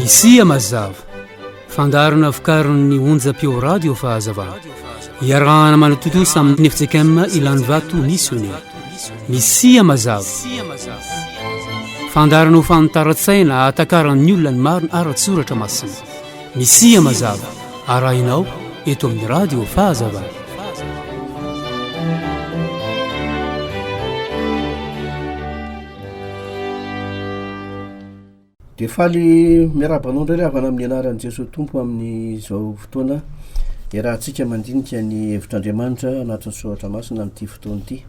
Misia mazava, fandaharana vokarin'ny onjam-peo radio Fahazavana. Iarahana manatontosa amin'ny FJKM Ilanivato Missionnaire. Misia mazava. Fandaharana ho fanitaran-tsaina ahatakaran'ny olona ny marina ara-tsoratra masina. Misia mazava arahinao eto amin'ny Radio Fahazavana. Dia faly miarahaba anao indray ry havana amin'ny anaran'i Jesoa Tompo amin'izao fotoana iarahantsika mandinika ny hevitr'Andriamanitra anatin'ny soratra masina amin'ity fotoana ity.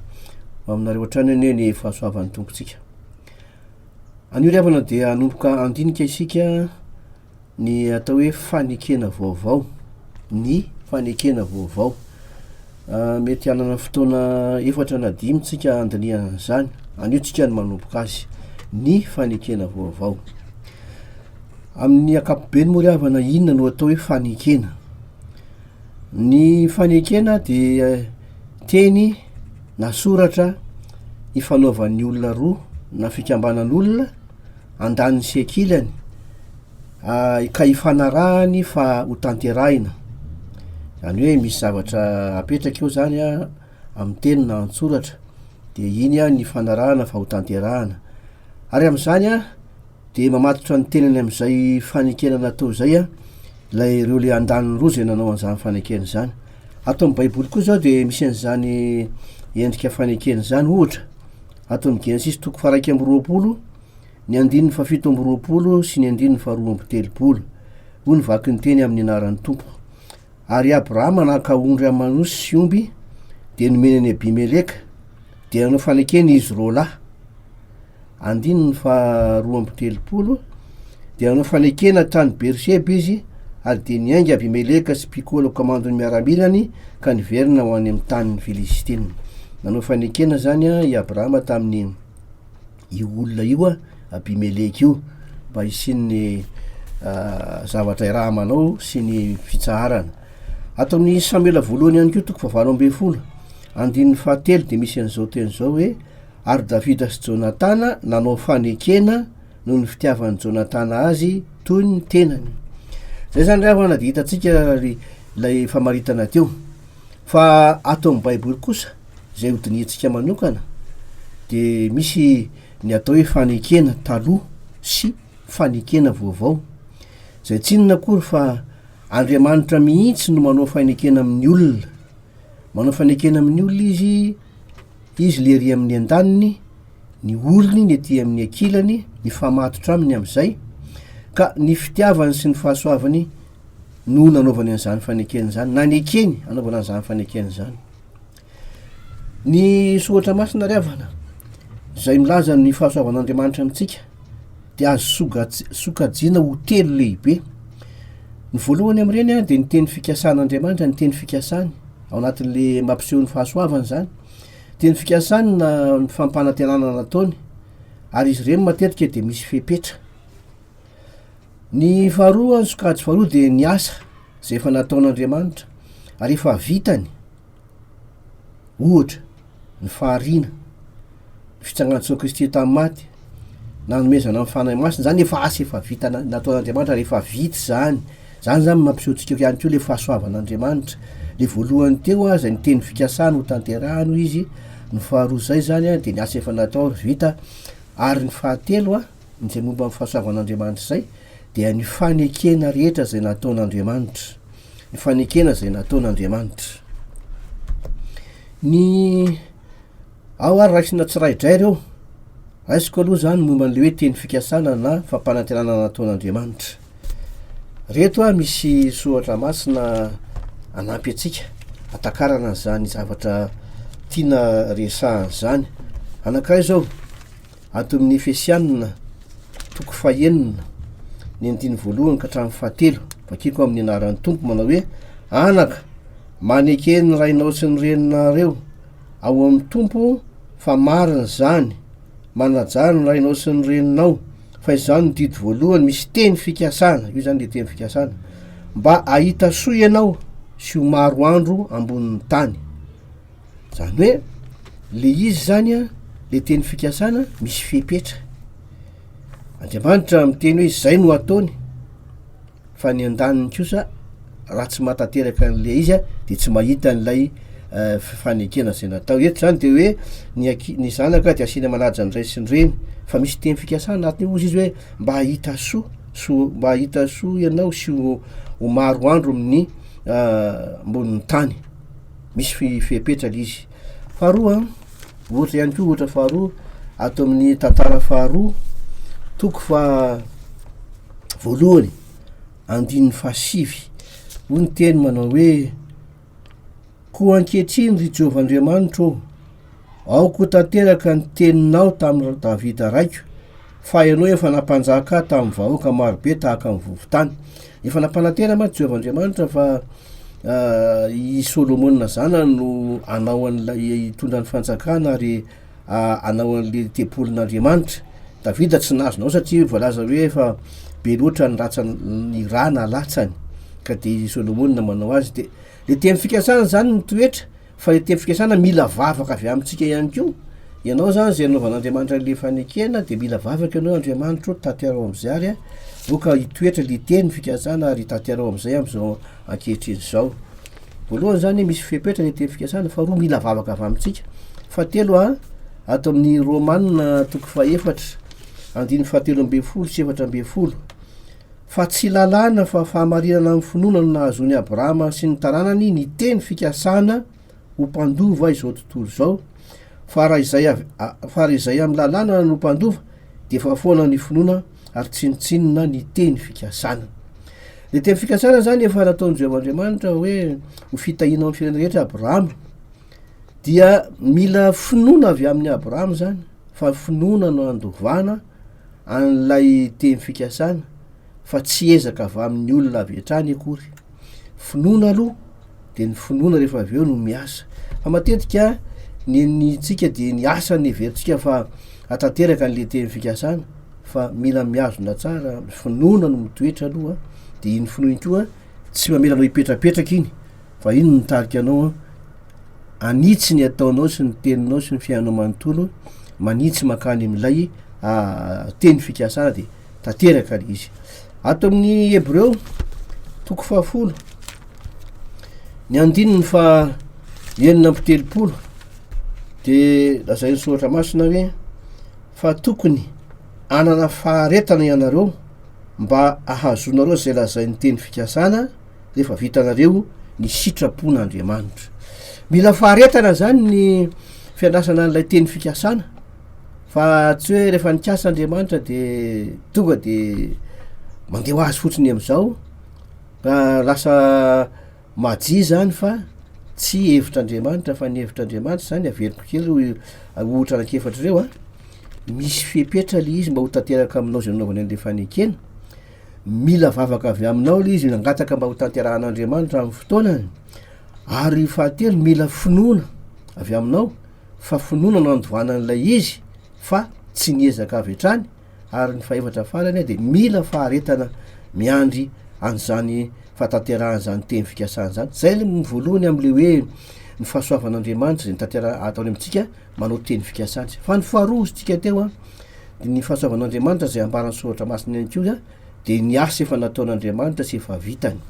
Ho aminareo hatrany anie ny fahasoavan'ny Tompontsika. Anio ry havana dia hanomboka handinika isika Ny atao hoe fanekena vaovao, ny fanekena vaovao. Mety hanana fotoana efatra na dimy tsika handinihana an'izany, anio tsika no manomboka azy, ny fanekena vaovao. Amin'ny ankapobeny moa ry havana inona no atao hoe fanekena? Ny fanekena dia teny na soratra ifanaovan'ny olona roa na fikambanan'olona andaniny sy ankilany ka ifanarahany fa ho tanterahina, zany hoe misy zavatra apetraka eo zany an amin'ny teny na an-tsoratra dia iny an ny ifanarahana fa ho tanterahana, ary amin'izany an dia mamatotra ny tenany amin'izay fanekena natao izay an ilay ireo le andaniny roa izay nanao an'izany fanekena izany, ato amin'ny baiboly koa zao dia misy an'izany endrika fanekena izany ohatra, Ato amin'ny Genesisy toko faharaika amby roapolo, ny andininy fahafito amby roapolo sy ny andininy faharoa amby telopolo, hoy ny vaky ny teny amin'ny anaran'ny Tompo. Ary Abrahama naka ondry aman'osy sy omby, dia nomeny an'i Abimeleka, dia nanao fanekena izy roalahy. Andininy faharoa amby telopolo. Dia nanao fanekena tany Beerseba izy, ary dia niainga Abimeleka sy Pikola komandon'ny miaramilany ka niverina ho any amin'ny tanin'ny Filistina. Nanao fanekena izany i Abrahama tamin'ny io olona io, Abimeleka io, mba hisian'ny ah, zavatra irahamanao sy ny fitsaharana. Ato amin'ny Samoela voalohany ihany koa toko fahavalo ambin'ny folo, andininy fahatelo dia misy an'izao teny izao hoe ary Davida sy Jonatana nanao fanekena noho ny fitiavan'i Jonatana azy toy ny tenany. Zay zany raha hoana dia hitantsika ilay famaritana teo. Fa ato amin'ny Baiboly kosa izay hodinihintsika manokana dia misy ny atao hoe fanekena taloha sy fanekena vaovao. Zay tsinona akory fa Andriamanitra mihitsy no manao fanekena amin'ny olona. Manao fanekena amin'ny olona izy Izy le ery amin'ny andaniny, ny orony ny ety amin'ny ankilany, mifamatotra aminy amin'izay, ka ny fitiavany sy ny fahasoavany no nanaovany an'izany fanekena izany, nanekeny hanaovana an'izany fanekena izany. Ny soratra masina ry havana, izay milaza ny fahasoavan'Andriamanitra amintsika, dia azo soga- sokajiana ho telo lehibe. Ny voalohany amin'ireny dia ny teny fikasan'Andriamanitra, ny teny fikasany. ao anatin'le mampiseho ny fahasoavany zany dia ny fikasany na ny fampanantenana nataony ary izy ireny matetika dia misy fepetra ny faharoa ny sokajy faharoa dia ny asa zay efa nataon'Andriamanitra ary efa vitany ohatra ny fahariana ny fitsangan'i Jesoa Kristy tamin'ny maty, nanomezana ny Fanahy Masina, zany efa asa efa vita na- nataon'Andriamanitra rehefa vita zany, zany zany mampiseho antsika ko ihany ko le fahasoavan'Andriamanitra, le voalohany teo aza ny teny fikasany ho tanterahany hoy izy, ny faharoa zay zany a de ny asa efa natao vita, ary ny fahatelo a, izay momba ny fahasoavan'Andriamanitra zay, dia ny fanekena rehetra zay nataon'Andriamanitra, ny fanekena zay nataon'Andriamanitra. Ny. Ao ary raisina tsiraidrairy ireo. Raisiko aloha izany momba an'ilay hoe teny fikasana na fampanantenana nataon'Andriamanitra. Ireto a, misy soratra masina hanampy antsika hatakarana an'izany zavatra tiana resahana izany. Anankiray izao, ato amin'ny Efesianina, toko fahenina, ny andininy voalohany ka hatramin'ny fahatelo. Vakiko amin'ny anaran'ny Tompo manao hoe, Anaka, maneke ny rainao sy ny reninareo, Ao amin'ny Tompo fa marina izany. Manajà ny rainao sy ny reninao fa izany no didy voalohany misy teny fikasana, io izany dia teny fikasana, mba hahita soa ianao sy ho maro andro ambonin'ny tany. Izany hoe le izy izany a, le teny fikasana misy fepetra. Andriamanitra miteny hoe izay no ataony. fa ny andaniny kosa raha tsy mahatanteraka an'ilay izy dia tsy mahita an'ilay eh, fanekena izay natao. Eto izany dia hoe ny, aki, ny zanaka dia asiana manaja ny ray sy ny reny, fa misy teny fikasana anatiny ozy izy hoe mba hahita soa, soa mba hahita soa ianao sy ho, ho maro andro amin'ny ah, ambonin'ny tany. Misy fi- fepetra ilay izy. Faharoa, ohatra ihany koa ohatra faharoa ato amin'ny tantara faharoa, toko fa voalohany andininy fahasivy, hoy ny teny manao hoe, Koa ankehitriny, ry Jehovah Andriamanitro ô, aoka ho tanteraka ny teninao tamin'i Davida raiko, fa ianao efa nampanjaka ahy tamin'ny vahoaka marobe tahaka ny vovon-tany. Efa nampanantena mantsy Jehovah Andriamanitra fa ah, i Solomona zanany no hanao an'ilay hitondra ny fanjakana ary hanao an'ilay tempolin'Andriamanitra. Davida tsy nahazo nanao satria voalaza hoe efa be loatra ny ratsany, ny rà nalatsany, ka dia i Solomona manao azy. Dia le teny fikasana izany ny toetra, fa le teny fikasana mila vavaka avy amintsika ihany koa. Ianao izany izay anaovan'Andriamanitra an'ilay fanekena dia mila vavaka ianao hoe Andriamanitra o, tanterao amin'izay ary aoka hitoetra le teny fikasana ary tanterao amin'izay amin'izao ankehitriny izao. Voalohany zany misy fepetra ny teny fikasana, faharoa mila vavaka avy amintsika, fahatelo a ato amin'ny Romana toko fahefatra andininy fahatelo ambin'ny folo sy efatra ambin'ny folo fa tsy lalàna fa fahamarinana amin'ny finoana no nahazoan'i Abrahama sy ny taranany ny teny fikasana ho mpandova izao tontolo izao fa raha izay fa raha izay amin'ny lalàna no mpandova dia efa foana ny finoana ary tsinontsinona ny teny fikasana. Ny teny fikasana izany efa nataon'i Jehovah Andriamanitra hoe ho fitahiana amin'ny firenena rehetra Abrahama. Dia mila finoana avy amin'ny Abrahama izany fa finoana no andovana an'ilay teny fikasana fa tsy ezaka avy amin'ny olona avy hatrany akory. Finoana aloha de ny finoana rehefa avy eo no miasa fa matetika ny enintsika de ny asa ny heverintsika fa atanteraka an'le teny fikasana fa mila mihazona tsara ny finoana no mitoetra aloha de iny finoana iny koa tsy mamela anao hipetrapetraka iny fa iny no mitarika anao hanitsy ny ataonao sy ny teninao sy ny fiainanao manontolo manitsy mankany amin'ilay teny fikasana de tanteraka le izy ato amin'ny hebreo toko fahafolo ny andininy fa enina amby telopolo de lazain'ny soratra masina hoe fa tokony anana faharetana ianareo mba ahazoanareo izay lazain'ny teny fikasana rehefa vitanareo ny sitrapon'andriamanitra mila faharetana zany ny fiandrasana an'ilay teny fikasana Fa tsy hoe rehefa nikasa Andriamanitra de tonga de mandeha ho azy fotsiny amizao ka lasa maji zany fa tsy hevitr'Andriamanitra fa ny hevitr'Andriamanitra zany averiko kely ho ohatra anak'efatra reo a, misy fepetra le izy mba ho tanteraka aminao zay anaovany anle fanekena, mila vavaka avy aminao le izy hangataka mba ho tanterahan'Andriamanitra aminy fotoanany, ary fahatelo mila finoana avy aminao. fa finoana no nandovana an'ilay izy fa tsy ny ezaka avy hatrany ary ny fahefatra farany dia mila faharetana miandry an'izany fahatanterahan' izany teny fikasana izany izay aloha ny voalohany amin'ilay hoe ny fahasoavan'Andriamanitra izay nitantera ataony amintsika manao teny fikasana izay fa ny faharoa hozintsika teo a dia ny fahasoavan'Andriamanitra izay ambaran'ny soratra masina ihany koa dia ny asa efa nataon'Andriamanitra sy efa vitany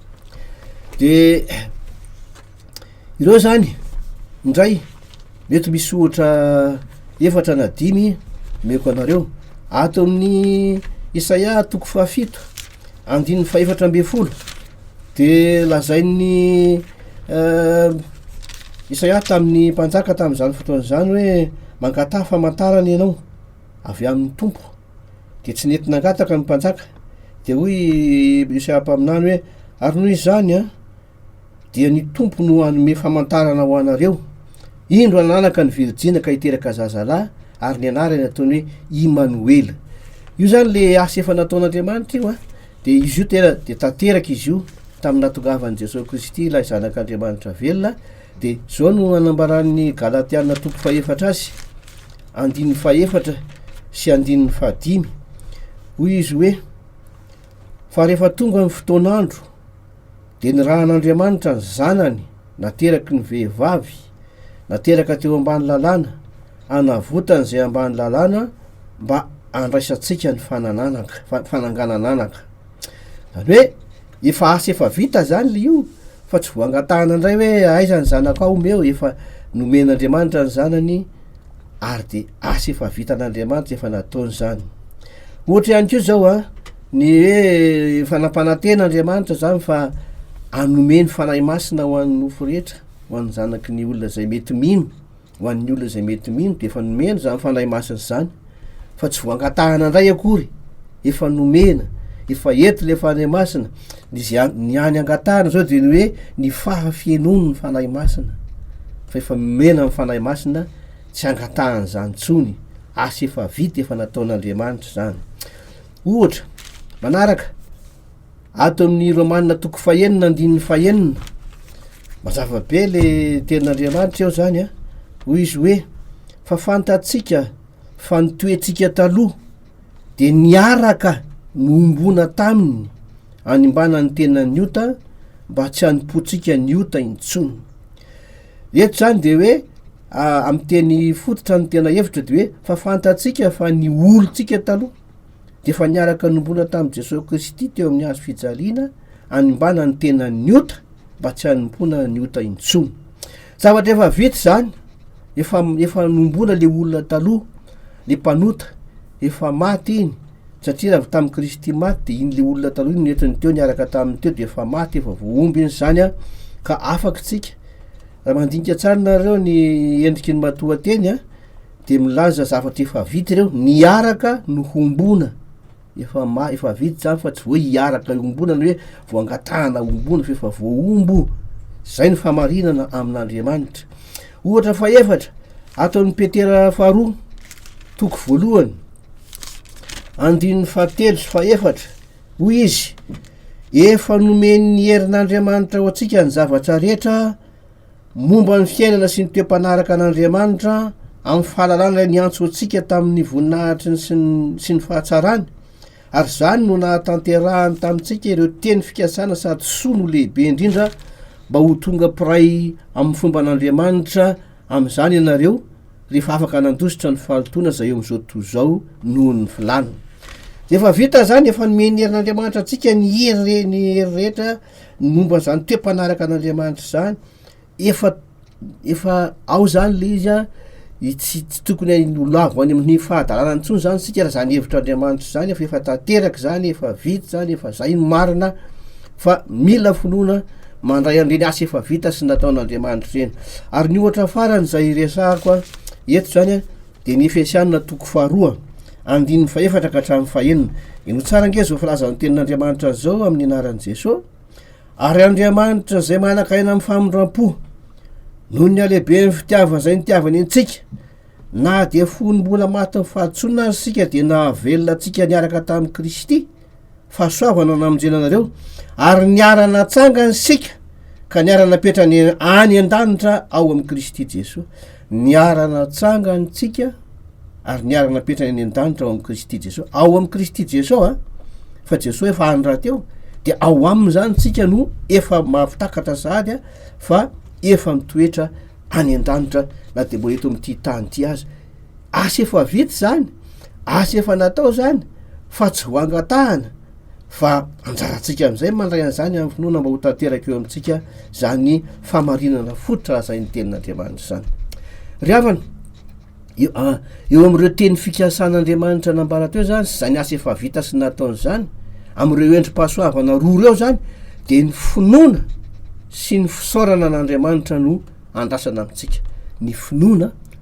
dia Ireo zany indray mety misy ohatra efatra na dimy omeko anareo. Ato amin'ny Isaia toko fahafito andininy fahefatra ambin'ny folo de lazain'ny Isaia tamin'ny mpanjaka tamin'izany fotoana izany hoe mangataha famantarana ianao avy amin'ny Tompo, de tsy nety nangataka ny mpanjaka de hoy Isaia mpaminany hoe ary noho izany an. dia ny Tompo no hanome famantarana ho anareo, indro ananaka ny virjina ka hiteraka zaza lahy ary ny anarany ataony hoe Imanoela. Io zany le asa efa nataon'Andriamanitra io a. Dia izy io tena dia tanteraka izy io tamin'ny natongavan'i Jesoa Kristy ilay zanak'Andriamanitra velona. Dia zao no anambaran'ny Galatiana toko fahefatra azy, andininy fahefatra sy andininy fahadimy. Hoy izy hoe, fa rehefa tonga ny fotoan'andro, dia nirahan'Andriamanitra ny Zanany nateraky ny vehivavy, nateraka teo ambany lalàna, hanavotany izay ambany lalàna mba handraisantsika ny fanananaka, fa- fananganananaka. Izany hoe, efa asa efa vita izany le io, fa tsy voangatahana indray hoe aiza ny zanakao, omeo, efa nomen'Andriamanitra ny Zanany ary dia asa efa vitan'Andriamanitra efa nataony zany, ohatra ihany koa zao an, ny hoe efa nampanantena Andriamanitra zany fa hanome ny Fanahy Masina ho an'ny nofo rehetra, ho an'ny zanaky ny olona zay mety mino, ho an'ny olona zay mety mino, dia efa nomeny zany Fanahy Masina zany, fa tsy voangatahana ndray akory efa nomena efa eto le fanahy masina ny any angatahana zao de ny hoe ny faha fienony ny fanahy masina fa efa nomena ny fanahy masina tsy angatahana zany tsony asa efa vita efa nataon'andriamanitra zany ohatra manaraka Ato amin'ny Romana toko fahenina andininy fahenina, mazava be le tenin'Andriamanitra eo zany a, hoy izy hoe fa fantatsika fa ny toetsika taloha de niaraka nohombona taminy hanimbana ny tenan'ny ota mba tsy hanompoantsika ny ota intsony. Eto zany de hoe amin'ny teny fototra ny tena hevitra de hoe fa fantatsika fa ny olontsika taloha dia efa niaraka nombona tamin'i Jesosy Kristy teo amin'ny hazo fijaliana animbana ny tenan'ny ota mba tsy hanompoana ny ota intsony. Zavatra efa vita izany, efa efa nombona le olona taloha, le mpanota, efa maty iny, satria raha tamin'i Kristy maty dia iny le olona taloha iny nentin'ny teo niaraka tamin'ny teo dia efa maty, efa voahomby iny izany a, ka afaka tsika. Raha mandinika tsara nareo ny endriky ny matoa teny a, dia milaza zavatra efa vita ireo niaraka no hombona efa ma- efa vita zany fa tsy voa hiaraka iombona ny hoe voangatahana ombona fa efa voaombo zay ny famarinana amin'andriamanitra ohatra fahefatra ataon'ny petera faharoa toko voalohany andin'ny fahatelo sy fahefatra hoy izy efa nomen'ny herin'andriamanitra ho antsika ny zavatra rehetra Momba ny fiainana sy ny toe-panaraka an'Andriamanitra amin'ny fahalalana ilay niantso antsika tamin'ny voninahitry ny sy ny, sy ny fahatsarany, ary izany no nahatanterahany tamintsika ireo teny fikasana sady soa no lehibe indrindra mba ho tonga mpiray amin'ny fomba an'Andriamanitra amin'izany ianareo rehefa afaka nandositra ny fahalotoana izay eo amin'izao tontolo izao noho ny filàna. Dia efa vita izany, efa nomen'ny herin'Andriamanitra antsika ny hery, ny hery rehetra, Ny momba an'izany toe-panaraka an'Andriamanitra izany, efa efa ao izany ilay izy an, tsy tsy tokony ho lavo any amin'ny fahadalana intsony izany isika raha izany hevitr'Andriamanitra izany fa efa tanteraka izany, efa vita izany, efa izay no marina fa mila finoana mandray an'ireny asa efa vita sy nataon'Andriamanitra ireny. Ary ny ohatra farany izay resahako an, eto izany an dia ny Efesianina toko faharoa Andininy fahefatra ka hatramin'ny fahenina. Ino tsara ange zao filazan'ny tenin'Andriamanitra zao amin'ny anaran'i Jeso? Ary Andriamanitra zay manaka aina amin'ny famindram-po, noho ny halehiben'ny fitiavany zay nitiavany antsika, na dia fony mbola matin'ny fahadisoana aza isika dia nahavelona antsika niaraka tamin'i Kristy. fahasoavana namonjena anareo ary niara-natsangany sika ka niara-napetra ny any an-danitra ao amin'i kristy jesoa niara-natsangantsika ary niara-napetra ny any an-danitra ao amin'i kristy jesoa ao amin'i kristy jesoa a ah, fa jesoa efa any raha teo de ao aminy zany tsika no efa mahafitakatra sady a fa efa mitoetra any an-danitra na de mbola eto amin'ity tany ity azy asa efa vita izany, asa efa natao izany fa tsy voangatahana fa anjarantsika amin'izay mandray an'izany amin'ny finoana mba ho tanteraka eo amintsika izany famarinana fototra azay ny tenin'Andriamanitra izany. Ry havana, eo ah, amin'ireo teny fikasan'Andriamanitra nambara teo izany sy izany asa efa vita sy nataony izany, amin'ireo endri-pahasoavana roa ireo izany dia ny finoana sy ny fisaorana an'Andriamanitra no andrasana amintsika. Ny finoana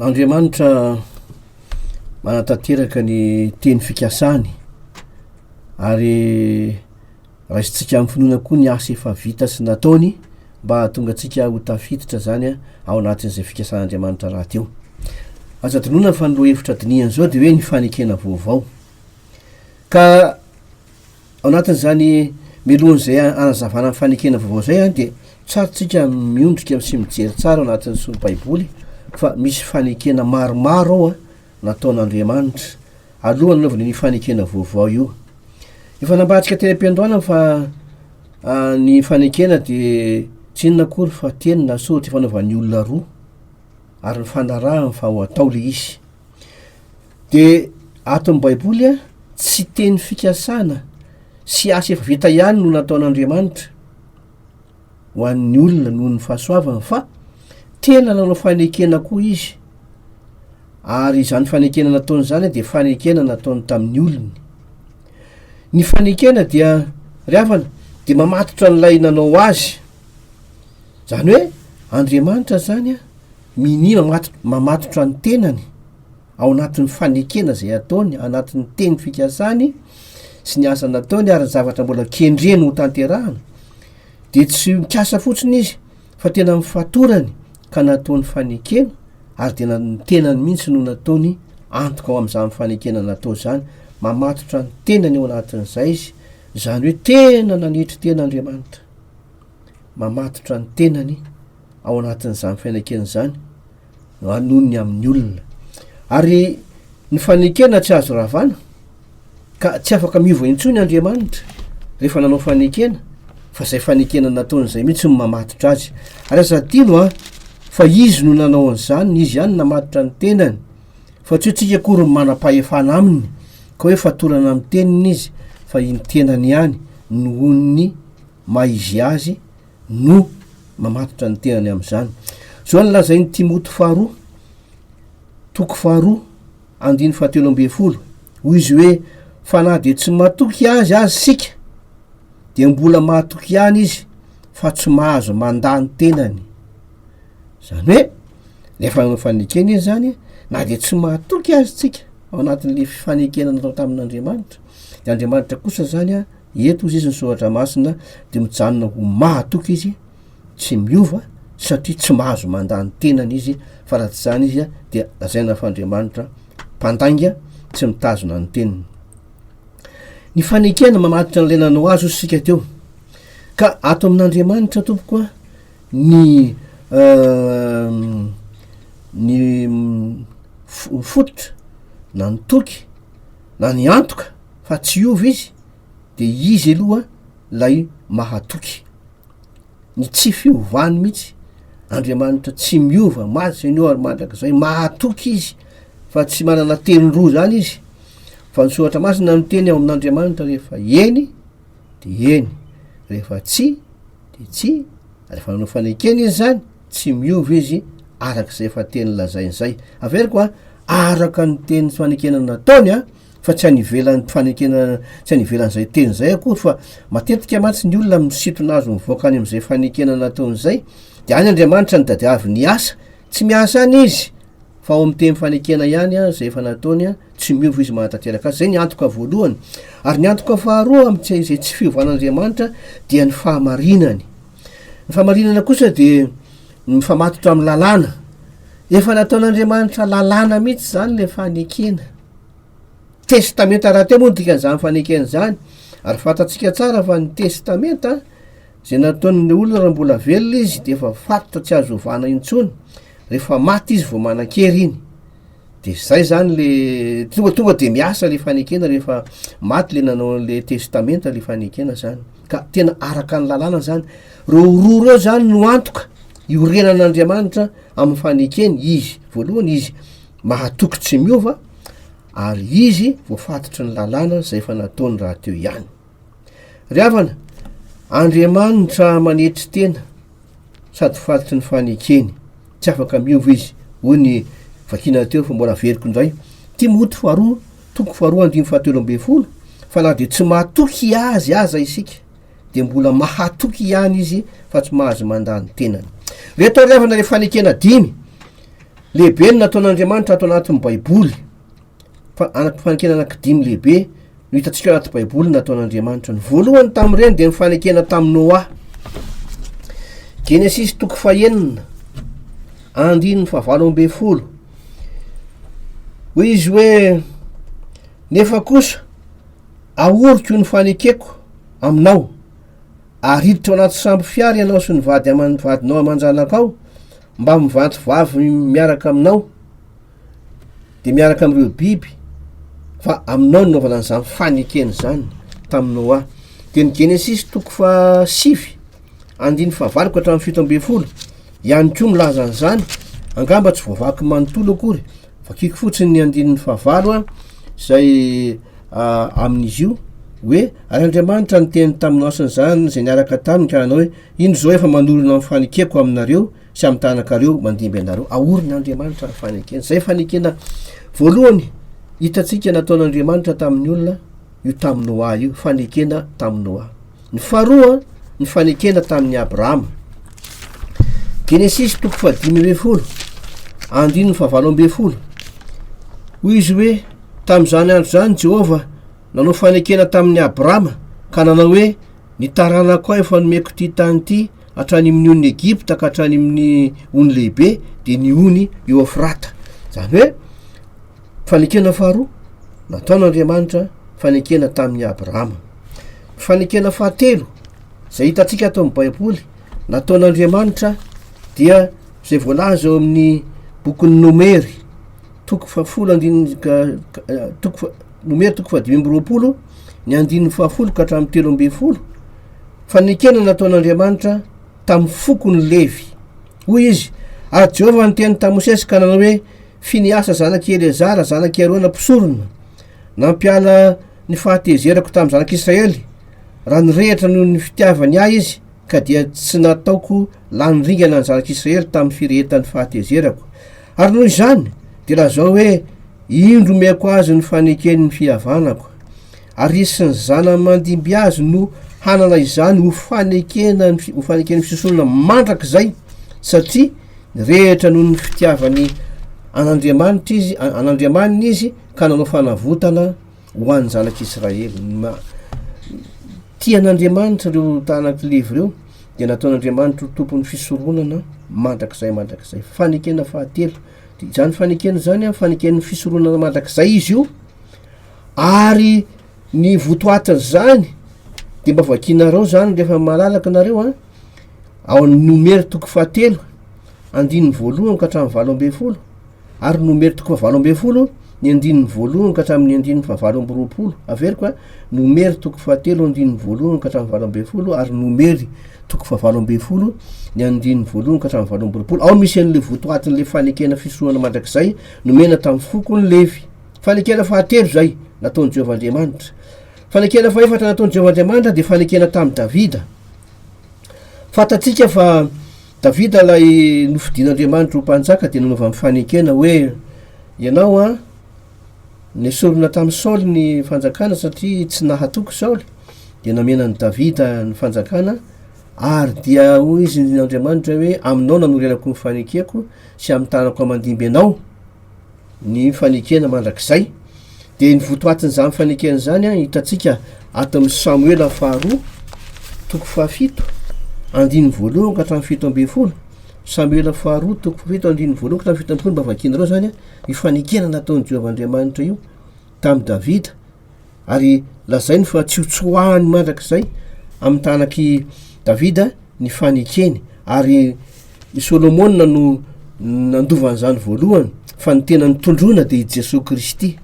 Andriamanitra manatanteraka ny teny fikasany ary raisintsika amin'ny finoana koa ny asa efa vita sy nataony mba hahatonga antsika ho tafiditra zany a ao anatin'izay fikasan'Andriamanitra raty eo. Aza adinoina fa ny lohahevitra dinihana izao dia hoe ny fanekena vaovao. Ka ao anatin'izany mialohan'izay hanazavana ny fanekena vaovao izay dia tsara tsika miondrika sy mijery tsara ao anatin'ny solo baiboly fa misy fanekena maromaro ao a nataon'Andriamanitra alohan'ny anaovana io fanekena vaovao io. Efa nambarantsika teny am-piandohana fa ny fanekena dia tsy inona akory fa teny na soratra fanaovan'ny olona roa ary ny fanarahany fa ho atao le izy. Dia ato amin'ny Baiboly, tsy teny fikasana sy asa efa vita ihany no nataon'Andriamanitra ho an'ny olona noho ny fahasoavany, fa tena nanao fanekena koa izy, ary izany fanekena nataony izany dia fanekena nataony tamin'ny olony. Ny fanekena dia, ry havana, dia mamatotra an'ilay nanao azy. Izany hoe Andriamanitra izany minia mamatotra ny tenany. ao anatin'ny fanekena izay ataony, anatin'ny teny fikasany sy ny asa nataony ary ny zavatra mbola kendreny ho tanterahana, dia tsy mikasa fotsiny izy fa tena amin'ny fatorany ka nataony fanekena ary dia ny tenany mihitsy no nataony antoka ao amin'izany fanekena natao izany, mamatotra ny tenany ao anatin'izay izy, izany hoe tena nanetry tena Andriamanitra, mamatotra ny tenany ao anatin'izany fanekena izany. anonony amin'ny olona. Ary ny fanekena tsy azo ravana, ka tsy afaka miova intsony Andriamanitra rehefa nanao fanekena, fa izay fanekena nataony izay mihitsy no mamatotra azy. Ary aza adino an, fa izy no nanao an'izany, izy ihany namatotra ny tenany, fa tsy hoe tsika akory no manam-pahefana aminy, ka hoe fatorana amin'ny teniny izy, fa iny tenany ihany nohon'ny maha izy azy, no mamatotra ny tenany amin'izany. Izao no lazain'i Timoty faharoa, toko faharoa, andiny fahatelo ambin'ny folo, hoy izy hoe, Fa na dia tsy matoky azy aza isika, dia mbola matoky ihany izy fa tsy mahazo mandà ny tenany. Izany hoe, ilay fanaovana fanekena izy izany, na dia tsy matoky azy isika ao anatin'ilay fanekena natao tamin'Andriamanitra, dia Andriamanitra kosa izany eto hozy izy ny soratra masina de mijanona ho mahatoky izy tsy miova satria tsy mahazo mandany tenany izy fa raha tsy zany izy a dia lazaina fa andriamanitra mpandainga tsy mitazona ny teniny ny fanekena mamaditra an'ilay nanao azy ozy sika teo ka ato amin'andriamanitra tompoko a ny ehm, ny mm, fototra na ny toky na ny antoka fa tsy hiova izy de izy aloha lay mahatoky ny tsy fiovany mihitsy andriamanitra tsy miova ma seigneur mandrakizay mahatoky izy fa tsy manana teny roa zany izy fa ny soratra masina no teny ao amin'andriamanitra rehefa eny de eny rehefa tsy de tsy rehefa nanao fanekena izy zany tsy miova izy arak'izay fa teny lazainy zay averiko a araka ny teny fanekena nataony a fa tsy any ivelan'ny fanekena tsy any ivelan'izay teny izay akory fa matetika mantsy ny olona amin'ny sintona azo mivoaka any amin'izay fanekena nataony izay dia any andriamanitra ny tadiavy ny asa tsy miasa any izy fa ao amin'ny teny fanekena ihany a izay efa nataony a tsy miova izy mahatanteraka azy izay ny antoka voalohany ary ny antoka faharoa amin'tsy izay tsy fiovan'andriamanitra dia ny fahamarinany ny fahamarinana kosa dia mifamatotra amin'ny lalàna efa nataon'andriamanitra lalàna mihitsy izany le fanekena Testamenta rahateo moa ny dikan'izany fanekena izany, ary fantatsika tsara fa ny testamenta izay nataon'ny olona raha mbola velona izy dia efa faritra tsy azo ovana intsony, rehefa maty izy vao manan-kery iny. Dia izay izany le tonga tonga dia miasa ilay fanekena rehefa maty ilay nanao an'ilay testamenta ilay fanekena izany. Ka tena araka ny lalàna izany. Ireo roa ireo izany no antoka iorenan'Andriamanitra amin'ny fanekeny, izy voalohany izy. mahatoky tsy miova ary izy voafatotry ny lalàna izay efa nataony rahateo ihany. Ry havana, Andriamanitra manetry tena sady fatotry ny fanekeny, tsy afaka miova izy, hoy ny vakina teo fa mbola veriko indray. Timoty faharoa, toko faharoa andininy fahatelo ambin'ny folo, fa na dia tsy mahatoky azy aza isika, dia mbola mahatoky ihany izy fa tsy mahazo mandà ny tenany. Ilay tariavana ilay fanekena dimy lehibe no nataon'Andriamanitra ato anatin'ny Baiboly. Fa anaty fanekena anankidimy lehibe no hitantsika anaty Baiboly nataon'Andriamanitra. Ny voalohany tamin'ireny dia ny fanekena tamin'i Noa. Genesisy toko fahenina, andininy fahavalo ambin'ny folo. Hoy izy hoe nefa kosa Ahoriko ny fanekeko aminao, ary hiditra ao anaty sambo fiara ianao sy ny vady aman vadinao aman-janakao, mba mivanto vavy miaraka aminao, dia miaraka amin'ireo biby, fa aminao no nanaovana an'izany fanekena izany tamin'i Noa. Dia ny Genesisy toko fahasivy andininy fahavalo ka hatramin'ny fito ambin'ny folo ihany koa milaza an'izany, angamba tsy voavaky manontolo akory. Vakiko fotsiny ny andininy fahavalo a, izay amin'izy io hoe ary Andriamanitra niteny tamin'i Noasy an'izany izay niaraka taminy ka nanao hoe indro izao efa manorina ny fanekeko aminareo sy amin'ny tanakareo mandimby anareo. Aorin'Andriamanitra ny fanekena. Izay fanekena voalohany hitantsika nataon'Andriamanitra tamin'ny olona. io tamin'i Noa io, fanekena tamin'i Noa. Ny faharoa, ny fanekena tamin'i Abrahama. Genesisy toko fahadimy ambin'ny folo, andininy fahavalo ambin'ny folo. Hoy izy hoe, tamin'izany andro izany Jehovah nanao fanekena tamin'i Abrahama ka nanao hoe, ny taranako aho efa nomeko ity tany ity hatrany amin'ny on'ny Egypta ka hatrany amin'ny ony lehibe dia ny ony Eofrata. Izany hoe Fanekena faharoa nataon'Andriamanitra fanekena tamin'i Abrahama. Ny fanekena fahatelo izay hitantsika ato amin'ny Baiboly nataon'Andriamanitra dia izay voalaza ao amin'ny bokin'ny Nomery toko fahafolo andininy toko Nomery toko fahadimy amby roapolo ny andininy fahafolo ka hatramin'ny telo ambin'ny folo fanekena nataon'Andriamanitra tamin'ny fokony levy hoy izy ary Jehovah niteny tamin'i Mosesy ka nanao hoe Finehasa zanak' i Eleazara, zanak' i Arona mpisorona, nampiala ny fahatezerako tamin'ny Zanak' Israely, raha nirehitra noho ny fitiavany ahy izy, ka dia tsy nataoko lany ringana ny Zanak' Israely tamin'ny firehetan'ny fahatezerako. Ary noho izany, dia lazao hoe, Indro omeko azy ny faneken'ny fihavanako. Ary resin'ny zana mandimby azy no hanana izany ho fanekena ny ho faneken'ny fisosolana mandrakizay satria ny rehetra noho ny fitiavany an'Andriamanitra izy an'Andriamaniny izy ka nanao fanavotana ho an'ny zanak'Israely ma tian'Andriamanitra ireo tanak' levy ireo dia nataon'Andriamanitra ho tompon'ny fisoronana mandrakizay mandrakizay fanekena fahatelo dia izany fanekena izany a faneken'ny fisoronana mandrakizay izy io ary ny votoatin'izany de mba vakianareo zany rehefa malalaka nareo a ao amin'ny nomery toko fahatelo andininy voalohany ka hatramin'ny valo ambin'ny folo ary nomery toko fa valo ambin'ny folo ny andininy voalohany ka hatramin'ny andininy fa valo amby roapolo averiko a nomery toko fahatelo andininy voalohany ka hatramin'ny valo ambin'ny folo ary nomery toko fa valo ambin'ny folo ny andininy voalohany ka hatramin'ny valo amby roapolo ao misy an'le votoatin'le fanekena fisohana mandrakizay nomena tamin'ny fokony levy Fanekena fahatelo izay nataon'i Jehovah Andriamanitra. Fanekena fahefatra nataon'i Jehovah Andriamanitra dia fanekena tamin'i Davida. Fantatsika fa Davida ilay nofidin'Andriamanitra ho mpanjaka dia nanova amin'ny fanekena hoe ianao an, nesorina tamin'i Saoly ny fanjakana satria tsy nahatoky Saoly, dia namena an'i Davida ny fanjakana ary dia hoy izy Andriamanitra hoe aminao nanorenako ny fanekeko sy amin'ny tanako aman-dimby ianao. ny fanekena mandrakizay dia ny votoatin'izany fanekena izany an hitantsika ato amin'ny samoela ny faharoa toko fahafito andininy voalohany ka hatramin'ny fito ambin'ny folo samoela faharoa toko fahafito andininy voalohany ka hatramin'ny fito ambin'ny folo mba vakianareo izany an ny fanekena nataon'i Jehovah Andriamanitra io tamin'i Davida ary lazainy fa tsy hotsoahany mandrakizay amin'ny tanak'i Davida ny fanekeny ary i Solomona no nandova an'izany voalohany fa ny tena nitondroana dia i Jesoa Kristy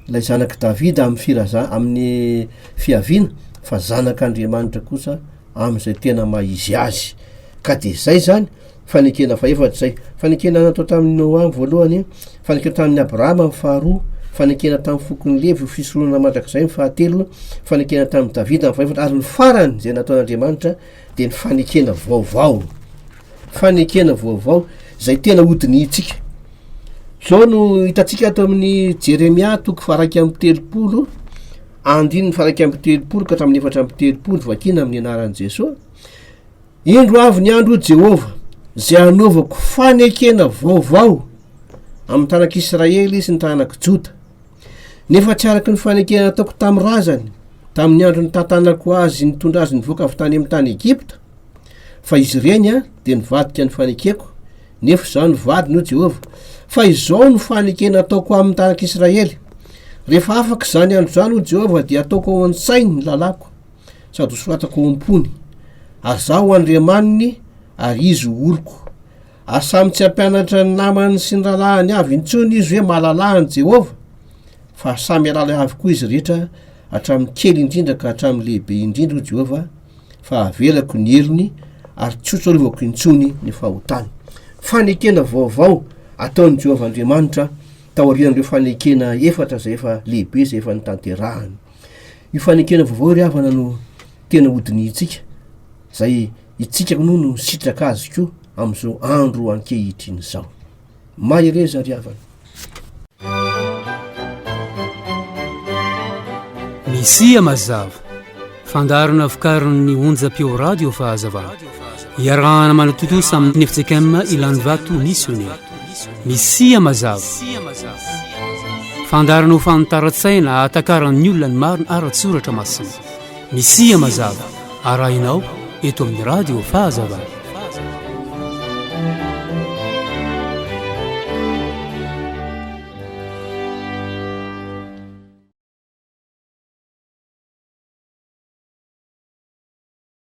ilay zanak'i Davida amin'ny firaza amin'ny fiaviana fa zanak'Andriamanitra kosa amin'izay tena maha izy azy ka dia izay zany Fanekena fahaefatra izay. Fanekena natao tamin'i Noa ny voalohany, fanekena tamin'i Abrahama ny faharoa, fanekena tamin'ny fokon'i Levy ho fisoronana mandrakizay ny fahatelo, fanekena tamin'i Davida ny fahefatra, ary ny farany izay nataon'Andriamanitra dia ny fanekena vaovao. Fanekena vaovao izay tena hodinihintsika. Izao no hitantsika ato amin'ny Jeremia toko faraika amin'ny telopolo, andininy faraika amin'ny telopolo ka hatramin'ny efatra amin'ny telopolo vakina amin'ny anaran'i Jesoa. Indro avy ny andro, hoy Jehovah, izay hanaovako fanekena vaovao amin'ny taranak'Israely sy ny taranak'i Joda, nefa tsy araka ny fanekena nataoko tamin'ny razany, tamin'ny andro nitantanako azy nitondra azy nivoaka avy tany amin'ny tany Egypta, fa izy ireny dia nivadika ny fanekeko, nefa izaho no vadiny, hoy Jehovah. Fa izao no fanekena ataoko amin'ny taranak'Israely, Rehefa afaka izany andro izany, hoy Jehovah, dia hataoko ao an-tsainy ny lalàko. sady ho soratako ao am-pony, ary Izaho ho Andriamaniny, ary izy ho oloko. Ary samy tsy hampianatra ny namany sy ny rahalahiny avy intsony izy hoe mahalala an'i Jehovah, fa samy hialala ahy avokoa izy rehetra, hatramin'ny kely indrindra ka hatramin'ny lehibe indrindra, hoy Jehovah, fa havelako ny heriny, ary tsy hotsarovako intsony ny fahotany. Fanekena vaovao ataon'i Jehovah Andriamanitra taorian'ireo fanekena efatra izay efa lehibe izay efa notanterahany. Io fanekena vaovao ry havana no tena hodinihintsika, izay itsika moa no sitraka azy koa amin'izao andro ankehitriny izao. Mahereza ry havana. Misia mazava, fandaharana vokarin'ny onjam-peo radio Fahazavana. iarahana manatontosa amin'ny FJKM Ilanivato Missionnaire. Misia mazava. Fandarana ho fanitaran-tsaina ahatakaran'ny olona ny marina ara-tsoratra masina. Misia mazava arahinao eto amin'ny radio fahazavana.